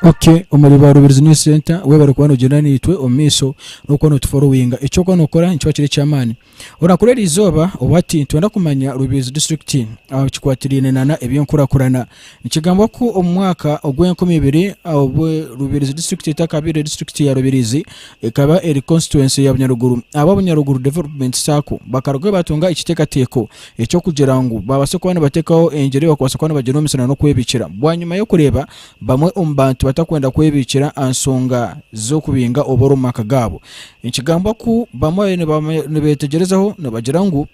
Okay, omuri ba Rubirizi News Center webare kuba nogyenda naitwe omu maisho n'okuba notuforowinga. Eky'okuba nokora nikiba kiri eky'amaani. Orakora eri izooba obu ati, Nitwenda kumanya Rubirizi Disiturikiti aha bikikwatiraine nana eby'enkurakurana. Nikigambwa ku omu mwaka ogw'enkumi ibiri obu Rubirizi Disiturikiti etakabaire Disiturikiti ya Rubirizi, ekaba eri Konsituwensi ya Bunyaruguru, aba Bunyaruguru Developumenti Saako bakarugayo baatunga ekiteekateeko eky'okugira ngu baabaase kuba nibateekaho engira ei bakubaasa kuba nibagyenda omu misana n'okwebiikira bwanyima y'okureeba bamwe omu bantu batakwenda kwebiikira aha nshonga z'okubinga oburo omu maka gaabo. Nikigambwa ku bamwe nibeetegyerezaho nibagira ngu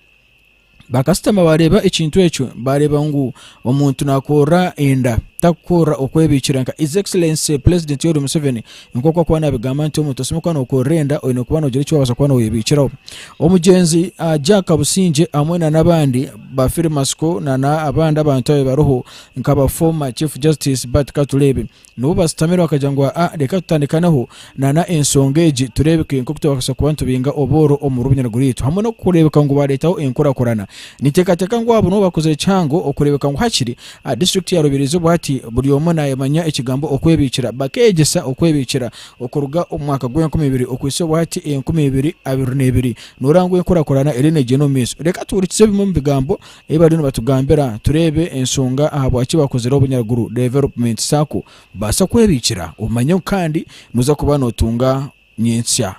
bakasitoma baareeba ekintu ekyo baareeba ngu omuntu naakurura enda takukurura okwebiikira nka His Excellency Pulezidenti Yoweri Museveni nk'oku akuba naabigamba nti omuntu osemeriire kuba nookurura enda oine kuba noogira eki waabaasa kuba nooyebiikiraho. Omugyenzi Jack Kabusingye hamwe na n'abandi bafiire matsiko na n'abandi abantu abariho nk'aba Former Chief Justice Bart Katureebe Nibo bashutamire bakagira ngu aa reka tutandikaneho nana enshonga egi tureebeke nk'oku twakasa kuba nitubinga obworo omu runyiriri rwaitu. Hamwe n'okureebeka ngu baareetaho enkurakurana, ninteekateeka ngu abo nibo bakozire kihango okureebeka ngu hakiri aha disiturikiti ya Rubirizi bwati buri omwe naayemanya ekigambo okwebiikira bakeegyesa okwebiikira okuruga omu mwaka gw'enkumi ibiri okuhitsya obwati enkumi ibiri abiri n'ebiri nooraangwa enkurakurana eriyo neegyenda omu maisho. Reka tuhurikize bimwe omu bigambo Ei bariyo nibatugambira, tureebe enshonga ahabwaki bakozire Obunyaruguru Development Sacco baasa kwebiikira obumanye ngu kandi noza kuba notunga nyentsya.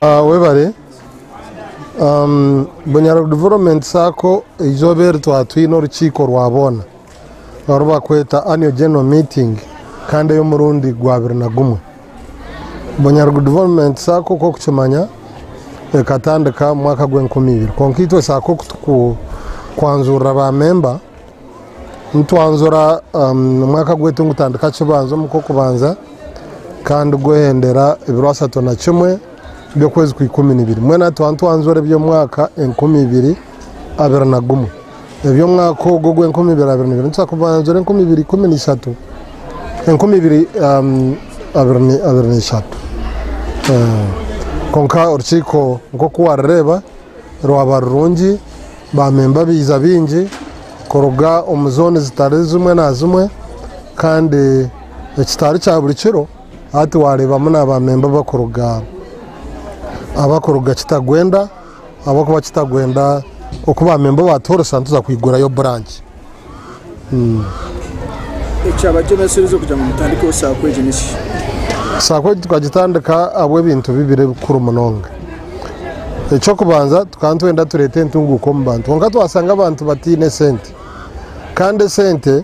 Webare. Bunyaruguru Development Sacco eizooba eri twaba twine orukiiko rwa boona oru barikweta Annual General Meeting kandi ey'omurundi gwabire na gumwe. Bunyaruguru Development Sacco nk'oku orikukimanya ekatandika omu mwaka gw'enkumi ibiri kwonka itwe Sacco ku turikwanzurira baamemba, nitwanzura omwaka gwaitu nigutandika kibanzo omu kw'okubanza kandi gwehendera ebiro ashatu na kimwe by'okwezi kwa ikumi na ibiri. Mbwenu aha tuhika nitwanzura eby'omwaka enkumi ibiri abiri na gumwe. Eby'omwaka ogwo ogw'enkumi ibiri abiri n'ibiri nituza kubanjura enkumi ibiri ikumi na ishatu, enkumi ibiri abiri na ishatu. Kwonka orukiiko nk'oku warureeba rwaba rurungi, baamemba baiza baingi kuruga omu zooni zitari zimwe na zimwe kandi ekitari kya buri kiro hati waareebamu na baamemba abarikuruga Kitagwenda Ahabw'okuba kitagwenda oku baamemba ba Toolsa nituza kwigurayo buranki. Ekyabatemeserize kugira ngu mutandikeho saako egi n'ekiki? Saako egi tukagitandika ahabw'ebintu bibiri ebikuru munonga. Eky'okubanza tukaba nitwenda tureete entunguuka omu bantu kwonka twashanga abantu bataine sente kandi esente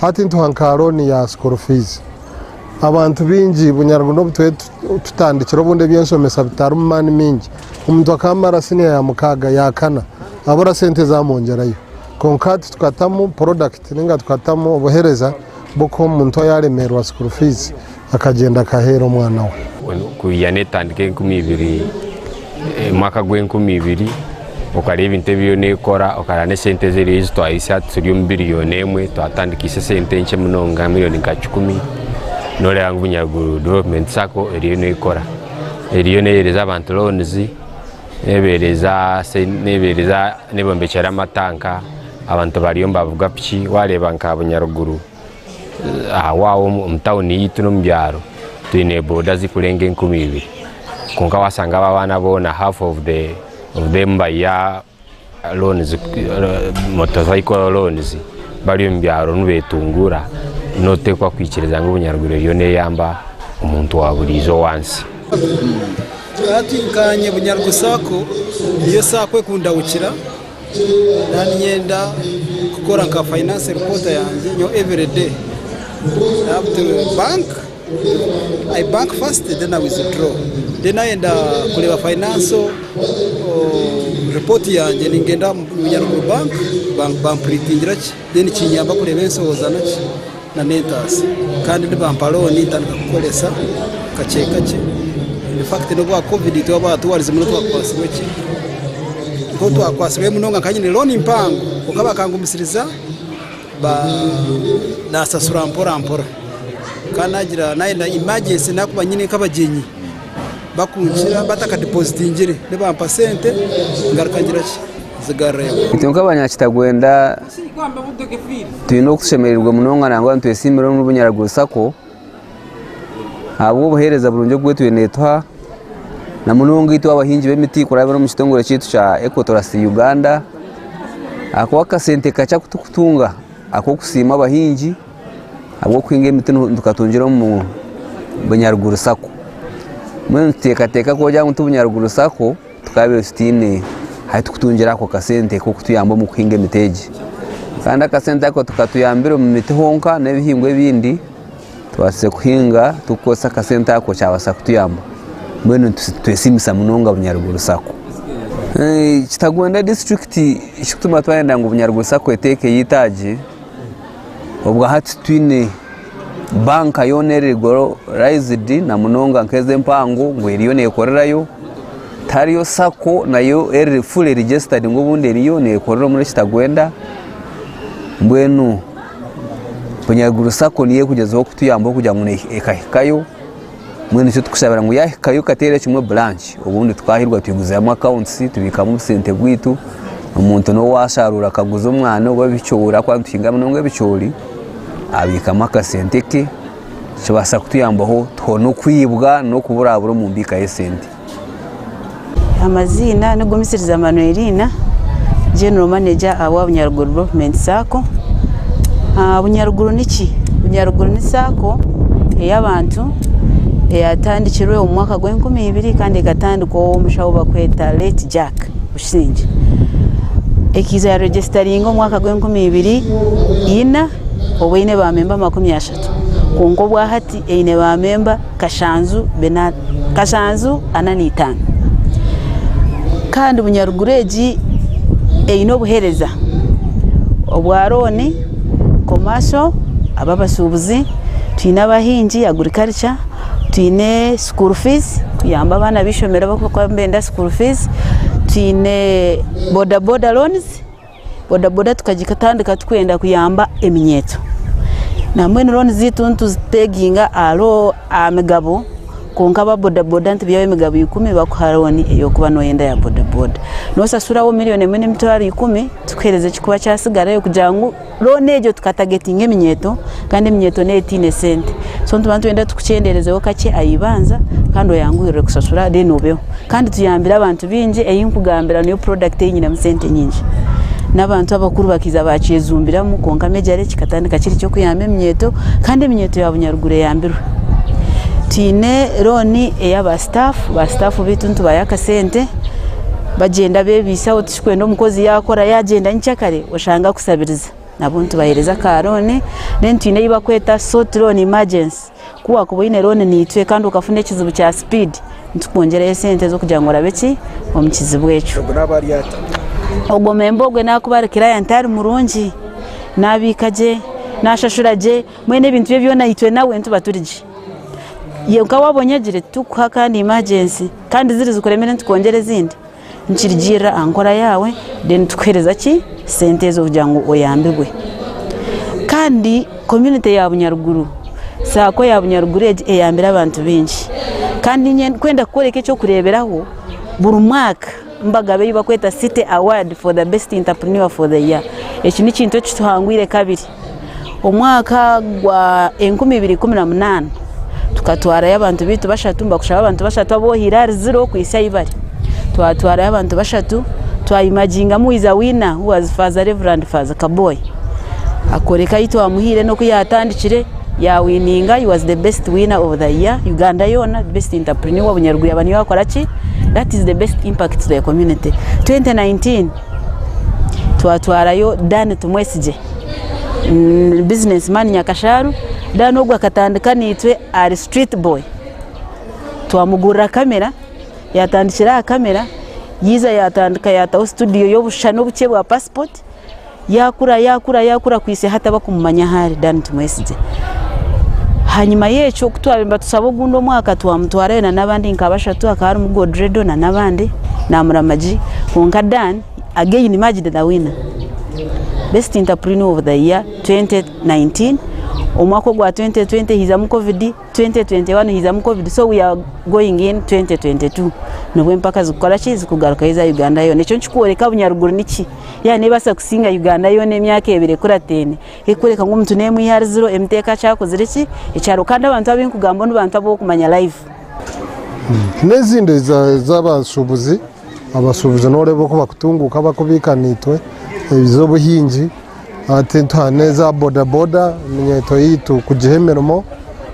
Hati ntuha nka looni ya school fees. Abantu baingi bunyarwa n'obu turiyo tutandikire obundi eby'enshomesa bitarimu maani maingi, omuntu akamara siniya ya mukaaga, ya kana abura sente ezaamongyerayo. Kwonka hati tukatamu porodakiti nainga tukatamu obuhereza bw'okuha omuntu oyaaremeerwa school fees. akagyenda akaheera omwana we. Ku ya netandika enkumi ibiri, omwaka gwa enkumi ibiri, okareba ebintu ebi yo nekora, okareba nesente ezi eriyo ezitwarisa, turi omu biriyoni emwe, twatandikise esente nkye munonga, miriyoni nka kikumi, noreba ngu Bunyaruguru Development Sacco eriyo nekora. Eriyo nehereza abantu loans, nebereza, nebombekyera amatanka, abantu bariyo nibavuga piki, wareba nka Bunyaruguru. Ahawaaho omu tawuni yaitu n'omu byaro twine boda zirikurenga enkumi ibiri kwonka waashanga abo abaana boona half of them bari aha motor vehicle loans bari omu byaro nibeetunguura noteekwa kwikiriza ngu obunyarwanda eriyo neeyamba omuntu wa buriijo owansi. Hati nka Nyebunyarugu sacco, niyo sacco ekundahukira. nanyenda kukora nka finance reporter yangye nyowe every day i have to bank i bank first then i withdraw then nayenda kureeba finance report yangye ningenda omu bank bampuritingire gye. Then kinyamba kureeba enshohozano ki na mentors kandi nibampa loan ntandika kukoresa kakye kakye in fact nobwa covid twaba tuwarizemu notwakwasirwe ki notwakwasirwe munonga nka nyine loan mpango kwonka bakangumisiriza ba nasasura mpora mpora kandi nagira nayenda emergency nakuba nyine nkabagyenyi bakunkira batakadipozitingire nibampa sente ngaruka ngira ki nzigarurayo. Itwe nk'abanyakitagwenda twine okushemererwa munonga nangwa nitwesiimira omuri Bunyaraguru sacco ahabw'obuheereza burungi obu etwe neetuha na munonga itwe abahingi b'emiti kurabira omuri kitongore kyaitu kya Ecotoras Uganda ahakuba akasente kakye aku turikutunga ak'okusiima abahingi ahabw'okuhinga emiti nitukatungira omu bunyaruguru sacco mbwenu nituteekateeka kugira ngu obunyaruguru sacco tukaabaire tutaine ahu turikutungira ako kasente k'okutuyamba omu kuhinga emiti egi kandi akasente ako tikatuyambire omu miti honka n'ebihingwa ebindi tubaasize kuhinga turikukoresa akasente ako kyabaasa kutuyamba mbwenu nitwesiimisa munonga bunyaruguru sacco kitagwenda disiturikiti ekirikutuma twayenda ngu bunyaruguru sacco eteekeyo eitaagi Obwa hati twine banka yoona eri regularized na munonga nk'ezi empango ngu eriyo nekorerayo. Tihariyo sacco nayo eri fully registered ngu obundi eriyo nekorera omuri Kitagwenda. Mbwenu Bunyaruguru sacco niyo erikugyezaho kutuyambaho kugira ngu ekahikayo. mbwenu nikyo tukushabira ngu yahikayo kateera ekimwe branch obundi tukahirwa twiguzamu accounts tubikamu obusente bwaitu omuntu nobu asharuura akaguza omwana oba ebicoori ahakuba nituhinga munonga ebicoori abikamu akasente ke nikibasa kutuyambaho tuhoone okwibwa n'okuburabura omu mbika y'esente. Amaziina ni Gumisiriza Manuelina, General Manager owa Bunyaruguru Development Sacco. Bunyaruguru niki? Bunyaruguru ni Sacco ey'abantu eyatandikirwe omu mwaka gwa enkumi ibiri kandi ekatandikwa omushaho barikweta late Jack Busingye. Ekaiza ya regisitaringa omu mwaka gwa enkumi ibiri ina obwe eine ba memba makumi ashatu kwonka obwa hati eine ba memba. kashanju kashanju ana n'itaano kandi bunyaruguru egi eine obuhereza obwa rooni, komaasho ab'abashuubuzi, twine abahingi agurikarikya, twine sukuuru fiizi kuyamba abaana b'eishomero abakuba nibenda sukuuru fiizi, twine boda boda roonizi bodaboda tukagitandika tukwenda kuyamba eminyeeto na mbwenu looni zaitu nituzipeginga aha migabo kwonka aba bodaboda nitubihayo emigabo ikumi bakuha looni ey'okuba noyenda ya bodaboda noshashuraho million emwe n'emitwaro ikumi tukuhereza ekikuba kyatsigarayo kugira ngu looni egyo tukatagetinga eminyeeto kandi eminyeeto neyo teine sente so nituba nitwenda tukukyenderezeho kakye ahibanza kandi oyanguhirire kushashura then obeho kandi tuyambire abantu bingi eyinkugambira niyo product eyinyinemu sente nyingi nabantu abakuru bakiija bakyejumbiramu kwonka major lake kikatandika kiri kyokuyamba eminyeeto kandi eminyeeto ya bunyaruguru eyambirwe twine loan eya ba staff ba staff beitu nitubayo akasente bagyenda bebisaho tikikwenda omukozi yakora yagyenda nyikyakare oshange akusabirize. nabo nitubahereza aka loan then twine eyi bakweta short loan emergency ku wakuba oyine loan nitwe kandi okafuna ekizibu kya speed nitukwongyerayo sente zokugira ngu orabe ki omu kizibu ekyo. Ogwo naba ari ata? Ogwo memba ogwe nakuba ari client ari murungi nabika gye nashashura gye mbwenu ebintu bye byona itwe nawe nituba turi gye yonka waba onyegire titukuha kandi emergency kandi ziri zikuremire nitukwongyera ezindi. Nikirigirira aha nkora yaawe then tukuhereza ki sente ezo kugira ngu oyambibwe. Kandi community ya Bunyaruguru, saako ya Bunyaruguru egi eyambire abantu baingi. Kandi ndikwenda kukworeka eky'okureeberaho, buri mwaka nibagaba ei barikweta City Award for the best entrepreneur for the year. Eki n'ekintu ekituhangwire kabiri. Omwaka gwa enkumi ibiri ikumi na munana tukatwarayo abantu baitu bashatu nibakushaba abantu bashatu abu ohaire ahari ziro kuhitsya ahu bari twatwarayo abantu bashatu twayimaginga mu Wiza Wina who was Faaza Rev. Faaza Kaboyi akoreka ahu twamuhaire n'oku yatandikire yawininga he was the best winner of the year Uganda yoona the best enterpreneur Obunyarugwira niwe wakora ki that is the best impact to the community. Twenty nineteen twatwarayo Dan Tumwesigye business man nyakasharu then ogu akatandika naitwe ari street boy twamugurira camera yatandikira aha camera yaiza yatandika yataho studio y'obushushani obukye bwa passport yakura yakura yakura kuhitsya hati abakumumanya ahu ari dan tumwesigye hanyuma yekyo ku twabiire nibatusaba ogundi omwaka twamutwarayo na nabandi nka bashatu hakaba harimu godredo na nabandi na muramagy kwonka dan Again Majid the winner best interpreneur of the year 2019 omwaka ogwa 2020 hizamu covid 2021 hizamu covid so we are going in 2022 nibwo empaka zikukora ki zikugarukayo eza Uganda yona ekyo nikikworeka bunyaruguru niki ya nebasa kusinga Uganda yona emyaka ebiri ekuratene ekikworeka ngu omuntu nemwe ihari ziro emiteka kyakozire ki ekyaro kandi abantu abenkugamba nibantu abokumanya live. N'ezindi ez'abashubuzi. Abashubuzi noreeba oku bakutunguka bakubiika naitwe ebiza obuhingi hati nituha neza boda boda eminyeeto yaitu kugiha emirimo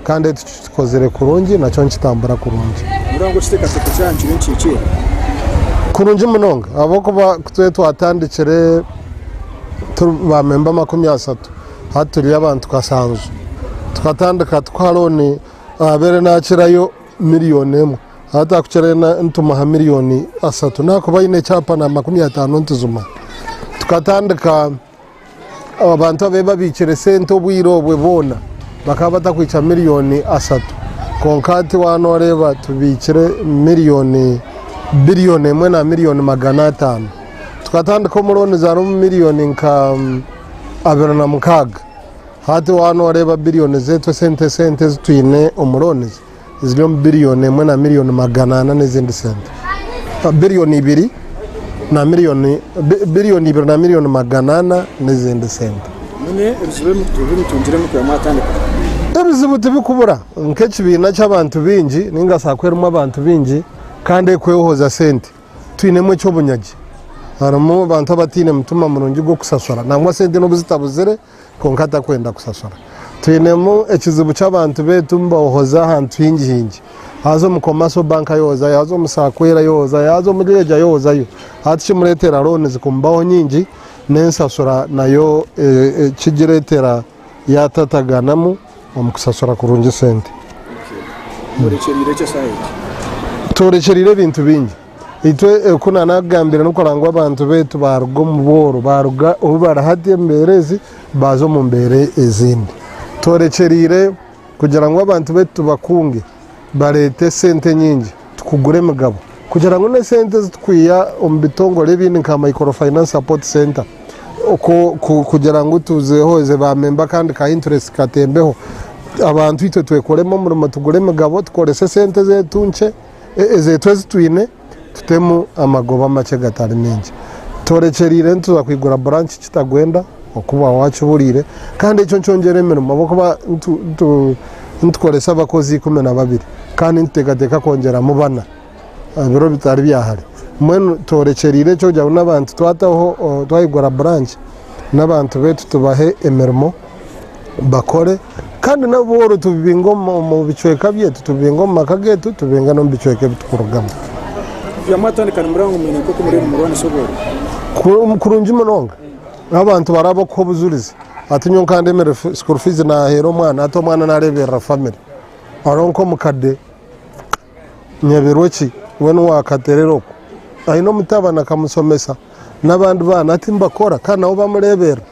kandi eki tukikozire kurungi nakyo nikitambura kurungi. Nooreeba ngu ekiteekateeko kyaabo nikiri nikihikiirira? Kurungi munonga ahabw'okuba kutwee twatandikire turi ba memba makumi ashatu hati turi abantu kashanju tukatandika tukuha looni ahabeire nakirayo million emwe. Hati akukira ena nitumuha miriyoni asatu nakuba aine ekyapa na makumi atano nituzuma. Tukatandika abantu abe babikire sente obwire obwe boona bakaba batakwikya miriyoni asatu konka hati waba noreba tubikire miriyoni biriyoni emwe na miriyoni magana atano. Tukatandika omu looni zari omu miriyoni nka abiri na mukaga hati waba noreba biriyoni zetu esente esente ezitwine omu looni zi. ziri omu biriyoni emwe na miriyoni magana ana n'ezindi sente biriyoni ibiri na miriyoni biriyoni ibiri na miriyoni magana ana n'ezindi sente ebizibu tibikubura nk'ekibiina ky'abantu baingi ninga shi sacco erimu abantu baingi kandi erikwehoza sente twinemu eky'obunyagi harimu abantu abataine mutima murungi gw'okusasura nangwa sente n'obu zitabuzire kwonka atakwenda kusasura. Twinemu ekizibu ky'abantu beitu nibahoza ahantu hingi hingi. Yaaza omu Commercial Bank ayohozayo, yaaza omu Sacco era ayohozayo, yaaza omuri egi ayohozayo. Hati kimureetera loonizi kumubaho nyingi n'ensasura nayo ekigireetera yaatataganamu omu kusasura kurungi sente. Tworekyereire ebintu bingi. itwe oku na nakugambire ni kurora ngu abantu baitu baruga omu bworo baruga obu bari hati omu mbeera ezi baza omu mbeera ezindi tworekyereire kugira ngu abantu baitu tubakunge bareete sente nyingi tukugure emigabo kugira ngu n'esente ezi tukwiha omu bitongore ebindi nka micro finance support center oku ku kugira ngu tuzihoze ba memba kandi ka interest katembeho abantu itwe twekoremu omurimo tugure emigabo tukorese sente zetu nkye ezeetu ezi twine tutemu amagoba amakye gatari maingi. Tworekyereire nituza kwigura buranki Kitagwenda oku bwaba wakibuuriire kandi ekyo nikyongyera emirimo ahabw'okuba nitukoresa abakozi ikumi na babiri kandi nituteekateeka kwongyeramu bana ebiro bitari bya hare. Mbwenu tworekyereire ekyo kugira ngu n'abantu twataho twayigura buranki n'abantu baitu tubahe emirimo. bakore kandi nabo boona tubibinge omu bicweka byaitu, tubibinge omu maka gaitu, tubibinge n'omu bicweka ebi turikurugamu. Kugira mwatandika nimureba ngu mwine nk'oku muriyo nimurwanisa obworo? Kurungi munonga. Abantu bari ab'okuha obujurizi. Hati nyowe nkandemire school fees naaheera omwana, hati omwana naareeberera famire. Hariho nk'omukadde Nyebirweki, we niwe waakaterera oku. Aine omutabani akamushomesa, n'abandi baana hati nibakora kandi nabo bamureeberera.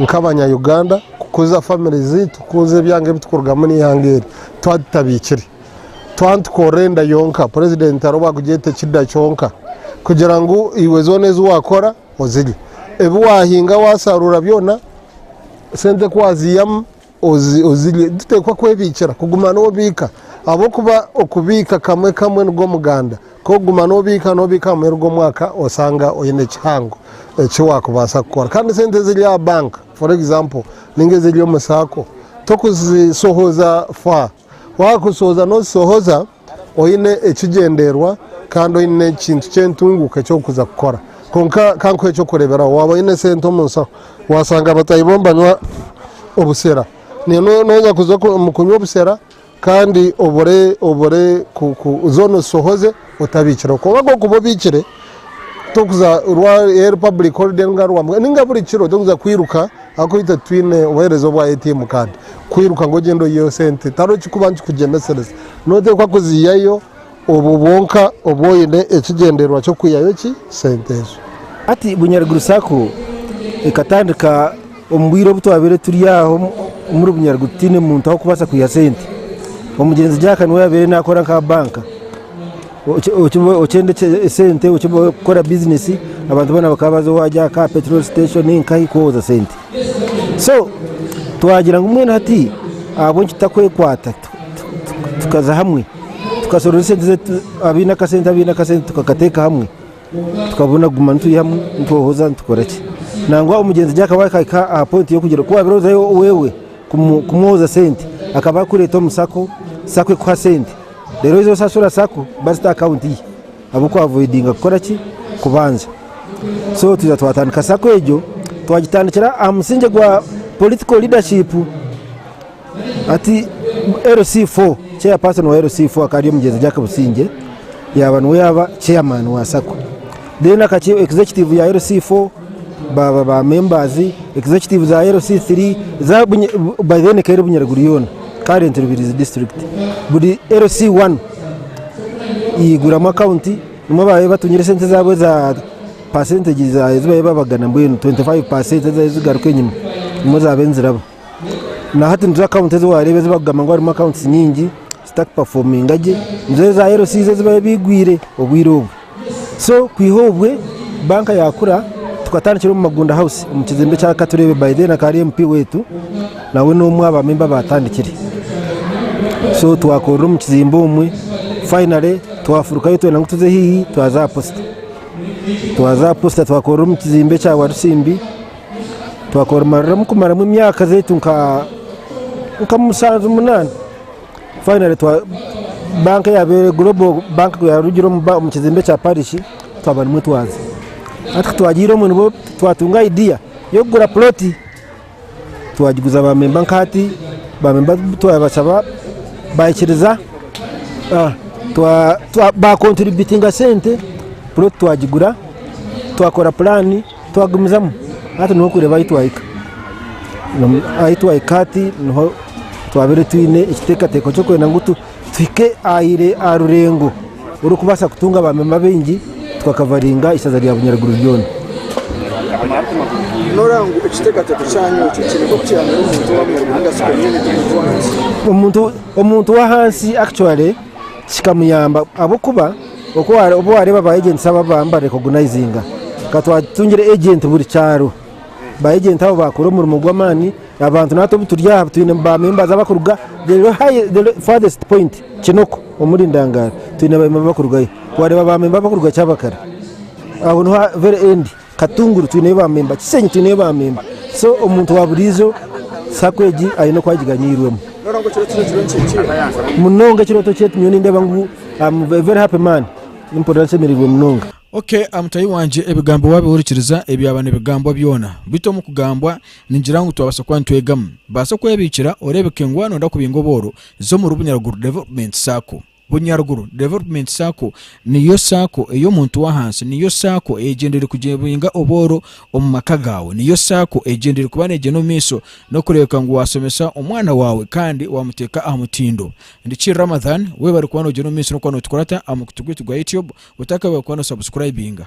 nk'abanya-Uganda kukuza famire zaitu kukuza ebyanga ebitukurugamu n'eihanga eri twaba tutabaikire. Twaba nitukorera enda yonka, purezidenti hariho obu arikugyeta ekida kyonka kugira ngu eihwe zoona ezi waakora ozirye. Ebi waahinga waasharuura byona, sente ku waziihamu, ozirye. Tuteekwa kwebiikira, kuguma noobiika ahabw'okuba okubiika kamwe kamwe nigwo muganda. Ku orikuguma noobiika noobiika aha muheru gw'omwaka oshanga oine kihango eki waakubaasa kukora. Kandi sente eziri aha banka for example, nainga eziri omu saako, torikuzishohoza faa. Waakushohoza nooshohoza oine ekigyendererwa kandi oine ekintu ky'entunguuka eki orikuza kukora. Kwonka ka nkuhe eky'okureeberaho, waaba oine sente omu nshaho, waashanga bataahi bo nibanywa obushera, nawe nooza kuza omu kunywa obushera kandi obure obure ku ku zoona ozishohoze. otabikireho kwonka agokuba obikire tokuza orwa eri public holiday ninga rwa ninga buri kiro tokuza kwiruka ahakuba itwe twine obuhereza obwa ATM card kwiruka ngu ogyende oyiheyo sente tihariho kikuba nikikugyemesereza noteekwa kuziihayo obwo bwonka obu oine ekigyendererwa ky'okwihayo ki sente ezo. Hati bunyaruguru sacco ekatandika. Omu bwire obu twabaire turi aho omuri Bunyaruguru tutaine muntu ah'okubaasa kwiha sente, omugyenzi Jack niwe yaabaire naakora nk'aha banka, okyenda sente kukora bizinesi abantu boona bakaba baza owa Jack aha peturooli siteshoni nkahi kuhooza sente. So twagira ngu mbwenu hati ahabw'enki tutakwekwata tukaza hamwe tukasorora esente, abaine akasente abaine akasente tukakateeka hamwe tukaba naguma turi hamwe nitwohoza nitukora ki nangwa omugyenzi gye akaba akahika aha point y'okugira ku waabire ozayo wewe kumwohoza sente akaba akureeta omu sako sako ekuha sente reero oza osasura sako bazita akawunti ye abu ku avoidinga kukora ki kubanja so tuza twatandika sako egyo twagitandikira aha musingye gwa political leadership Ati, LC4, Chairperson wa LC4 akaba ari omugyenzi Jack Busingye yaaba niwe yaaba Chairman wa Sacco. Then akaki- Executive ya LC4 baaba ba members, Executive za LC3, za Bunye- by then ekaba eri Bunyaruguru yoona, current Rubirizi District. Buri LC1 yaiguramu account, nimwo baabaire batungire sente zaabo eza percentage za- ezi baabaire babagana mbwenu 25% ezi zigaruka enyima, nimwo zaabaire niziraba. nahati nizo akawunti ezi wareeba ezi bakugamba ngu harimu akawunti nyingi zitakupafominga gye nizo ezi za LC izi ezi babaire baigwire obwire obwo so kwiha obwe banka yakura tukatandikira omu Magunda House omu kizimbe kya Katureebe by then akaba ari MP wetu nawe n'omwe aha bamemba abaatandikire so twakorera omu kizimbe omwe finally twafurukayo twena ngu tuze haihi twaza aha posita twaza aha posita twakorera omu kizimbe kya Warusimbi Twakorumariramu kumaramu emyaka zeitu nka nka mushanju munana finally twa bank yabaire global bank yarugire omu ba- omu kizimbe kya parish twaba nimwo twaza hati kutwagiire omwe nibwo twatunga idea y'okugura ploti twagiguza ba memba nka hati ba memba twabashaba baikiriza ah, twa- twa- bakontributinga sente ploti twagigura twakora pulaani Twagumizamu hati niho kureeba ahu twahika. Ahu twahika hati niho twabaire twine ekiteekateeko ky'okwenda ngu tuhike aha rurengo orw'okubaasa kutunga baamemba baingi tukakavaringa eishaza rya Bunyaruguru ryona. Nooreeba ngu ekiteekateeko kyanyu ekyo kiine nk'oku kiyambire omuntu wa Bunyaruguru nainga shi omunyaanyaanya omuntu w'ahansi? Omuntu w'ahansi actually kikamuyamba ahabw'okuba oku obu waareeba ba ejenti abo ababa nibarekogonaizinga, ka twatungire ejenti buri kyaro, ba ejenti abo baakora omurimo gw'amaani, abantu naitwe obu turi aha twine ba members abarikuruga the high the farthest point Kinoko omuri Ndangaaro twine ba memba abarikurugayo, waareeba ba memba abarikuruga Kyabakara aho niho very end Katunguru twineyo ba memba, Kisenyi twineyo ba memba so omuntu wa buriijo sacco egi aine oku agiganiirwemu. Munonga ekirooto kye nyowe nindeeba ngu am a very happy man, nimpurira nshemereirwe munonga. Ok mutahi wangye ebigambo wabihurikiriza ebyaba nibigambwa byona beitu omu kugambwa ningira ngu twabasa kuba nitwegamu. Baasa kwebiikira oreebeke ngu waaba noyenda kubinga obworo za omuri Bunyaruguru Development Sacco. Bunyaruguru Development Sacco niyo sacco ey'omuntu w'ahansi, niyo sacco eyegyendeire kugyebinga obworo omu maka gaawe, niyo sacco eyegyendeire kuba neegyenda omu maisho n'okureebeka ngu waashomesa omwana waawe kandi waamuteeka aha mutindo. Ndiki Ramadhan, weebare kuba noogyenda omu maisho n'okuba nootukurata aha mukutu gwaitu gwa Youtube, otakaabaire kuba noosubscribinga.